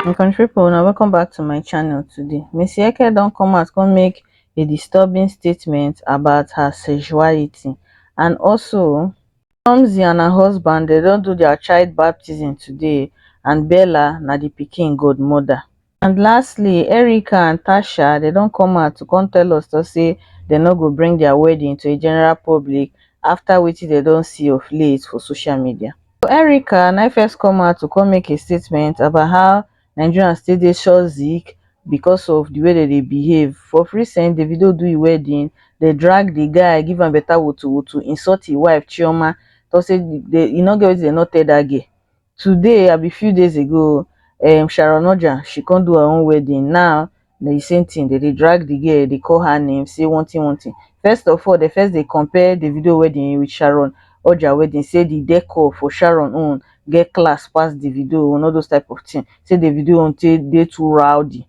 my country people una welcome back to my channel today miss yeke don come out come make a disturbing statement about her sexuality and also Tomzi and her husband they don't do their child baptism today and Bella na the pikin godmother and lastly erica and tasha dem don come out to come tell us tok say dem no go bring dia wedding to a general public afta wetin dem don see of late for social media so erica na im first come out to come make a statement about how nigerians still dey shozik becos of di way dem dey behave of recent davido do im wedding dem drag di guy give am beta wotowoto insult im wife chioma tok say e no get wetin dem no tell dat girl today abi few days ago um sharon oja she come do her own wedding now na the same thing dem dey drag the girl dey call her name say one thing one thing first of all dem first dey compare davido wedding with sharon oja wedding say the decor for sharon own get class pass davido own all those type of thing say davido own take dey too rowdy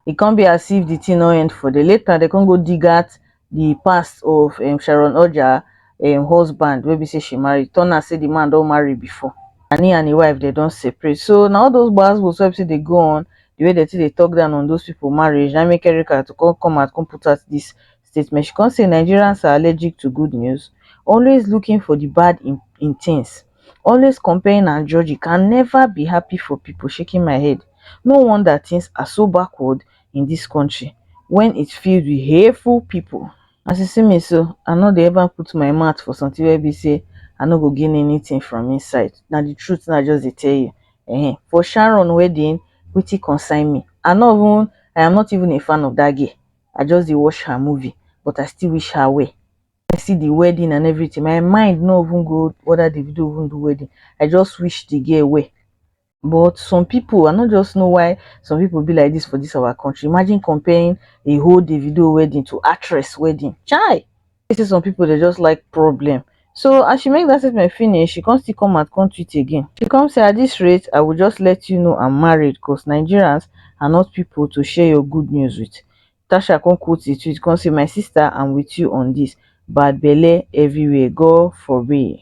e come be as if the thing no end for there later dem come go dig out the past of um Sharon Oja um husband wey be say she marry turn out say the man don marry before and he and him wife dem don separate so na all those gbasgbos wey be say dey go on the way dem take dey talk down on those people marriage na make Erica to come come out come put out this statement she come say nigerians are allergic to good news always looking for di bad in in tins always comparing and judging can neva be happy for pipo shaking my head no wonder tins are so backward in dis kontri wen it filled wit hateful pipo as you see me so i no dey ever put my mouth for sometin wey be say i no go gain anytin from inside na di truth wey i just dey tell you um for sharon wedding wetin concern me i no even i am not even a fan of dat girl I just dey watch her movie but I still wish her well. I see the wedding and everything, my mind no even go whether Davido even do wedding, I just wish the girl well. But some people, I no just know why some people be like this for this our country. Imagine comparing a whole Davido wedding to actress wedding. Chai! e say some pipo dey just like problem so as she make dat statement finish she come still come out come tweet again she come say at dis rate i go just let you know am married cos nigerians are not pipo to share your good news with tasha come quote di tweet come say my sister am with you on dis bad belle everywhere god forbid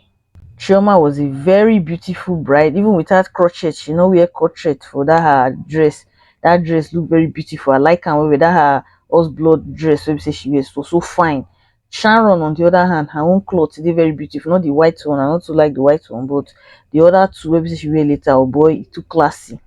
chioma was a very beautiful bride even without crochet she no wear crochet for that her dress that dress look very beautiful i like am well well that her horse blood dress wey be say she wear so so fine sharon on the other hand her own cloth dey very beautiful not the white one i not too like the white one but the other two wey be say she wear later oh boy e too classy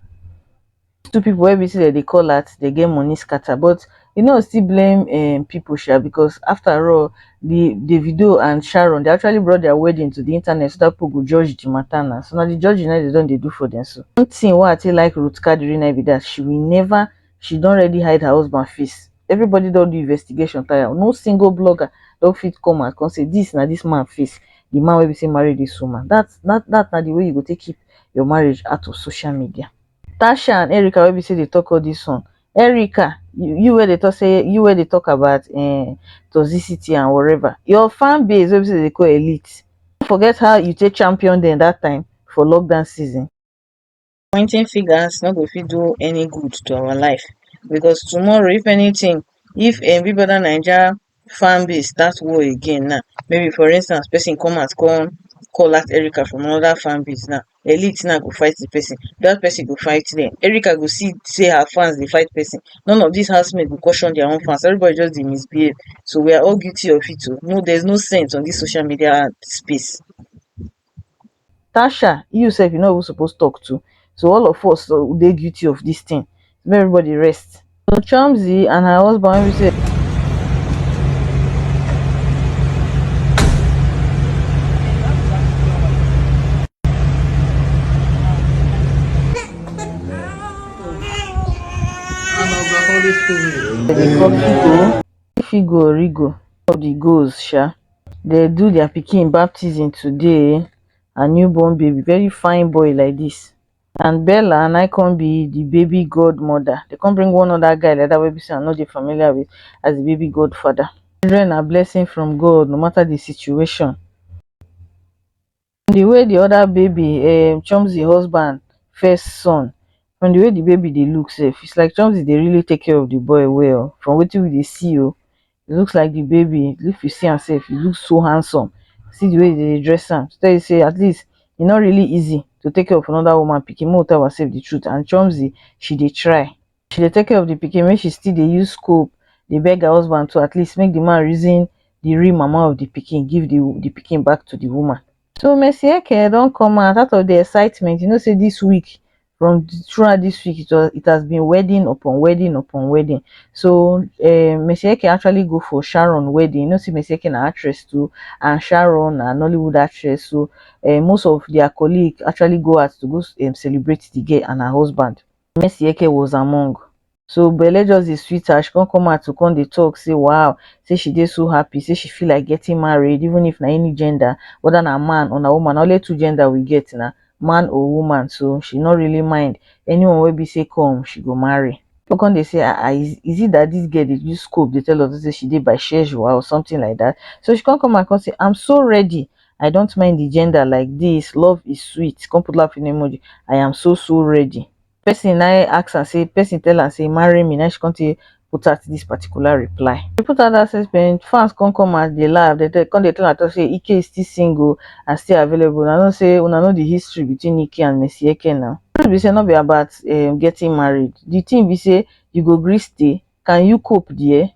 two people wey be say dem dey call out dey get money scatter but e no go still blame um people sha because after all the Davido and Sharon dey actually brought their wedding to the internet so that people go judge the matter now so na the judging na dem don dey do for them so one thing wey I take like Ruth Kadiri na be that she will never she don already hide her husband face everybody don do investigation tire no single blogger don fit come out come say this na this man face the man wey be say marry this woman that that that na the way you go take keep your marriage out of social media. Tasha and Erica wey be say dey talk all this one, Erica you wey dey talk say you wey dey talk about um toxicity and whatever your fan base wey be say dem dey call elite no forget how you take champion dem that time for lockdown season. Pointing fingers no go fit do any good to our life because tomorrow if anything if um big brother naija fan base start war again now maybe for instance person come out come call out Erica from another fan base now elite now go fight the person that person go fight them Erica go see say her fans dey fight person none of these housemates go caution their own fans everybody just dey misbehave so we are all guilty of it o no there's no sense on this social media space Tasha you sef you no even suppose talk too so all of us dey guilty of this thing make everybody rest so Chomzy and her husband wey be say Holy Spirit. if igwe origo top di goals um dem do dia pikin baptism today um her new born baby very fine boy like dis and Bella na come be di baby god mother dey come bring one other guy like dat wey be say I no dey familiar with as di baby god father children na blessing from God no matter di situation from di way di oda baby um chomzy husband first son from di way di baby dey look sef is like chomzy dey really take care of di boy well from wetin we dey see oh e looks like di baby if you see am sef e looks so handsome see di way dem dey dress am to tell you say at least e no really easy to take care of anoda woman pikin make we tell ourselves di truth and chomzy she dey try she dey take care of the pikin make she still dey use scope dey beg her husband to at least make the man reason the real mama of the pikin give the the pikin back to the woman so mercy eke don come out out of the excitement you know say this week from throughout this week it was it has been wedding upon wedding upon wedding so um mercy eke actually go for sharon wedding you know say mercy eke na actress too and sharon na nollywood actress so um most of their colleague actually go out to go um celebrate the girl and her husband Mercy Eke was among. So belle just dey sweet her, she come come out to come dey talk say wow, say she dey so happy, say she feel like getting married even if na any gender, whether na man or na woman, na only two gender we get na, man or woman, so she no really mind, anyone wey be say come, she go marry. People come dey say ah ah, is is it that this girl dey use scope dey tell us say she dey bisexual or something like that? So she come come out come say I'm so ready, i dont mind the gender like this love is sweet come put laughing emoji i am so so ready person na him ask am say person tell am say marry me na him she come take put out this particular reply she put out that statement fans come come and dey laugh they tell come dey tell am talk say ike is still single and still available una know say una know the history between ike and mercy eke na truth be say no be about um getting married the thing be say you go gree stay can you cope there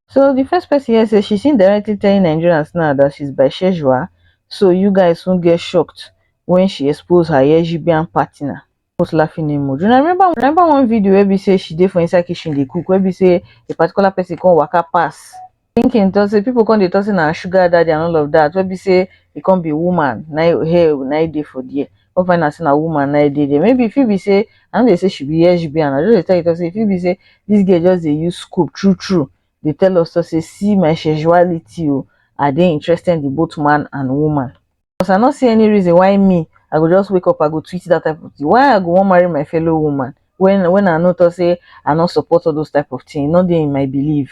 so di first pesin hear say she's indirectly telling nigerians now dat she's bisexual so u guys soon get shocked wen she expose her lsgbian partner put laughing emoji una remember una remember one video wey be say she dey for inside kitchen dey cook wey be say a particular pesin come waka pass thinking talk say pipo come dey talk say na her sugar daddy and all of dat wey be say e come be woman na im hair na im dey for there come find out say na woman na e dey there. Maybe e fit be say I no dey say she be lesbian, I just dey tell you talk say e fit be say this girl just dey use scope true true dey tell us talk say see my sexuality o, I dey interested in both man and woman. Because I no see any reason why me I go just wake up I go tweet that type of thing. Why I go wan marry my fellow woman when when I no talk say I no support all those type of thing, e no dey in my believe.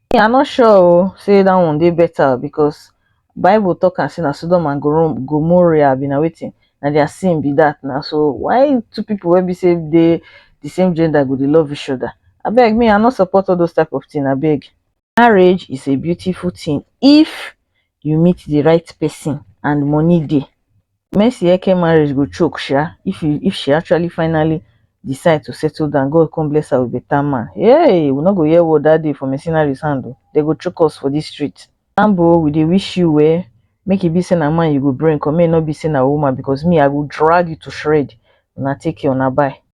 Me I no sure oh sey dat one dey better because bible talk am sey na Sodom and Gomorrhia be na wetin na their sin be dat na so why two people wey be sey dey the same gender go dey love each other abeg me I no support all those type of thing abeg. Marriage is a beautiful thing if you meet the right person and money dey. madueke marriage go choke sha if you if she actually finally decide to settle down god come bless her with better man hey we no go hear word that day for mercenaries hand o dem go choke us for this street Sambo we dey wish you well make e be say na man you go bring come make e no be say na woman because me i go drag you to shred una take care una bye.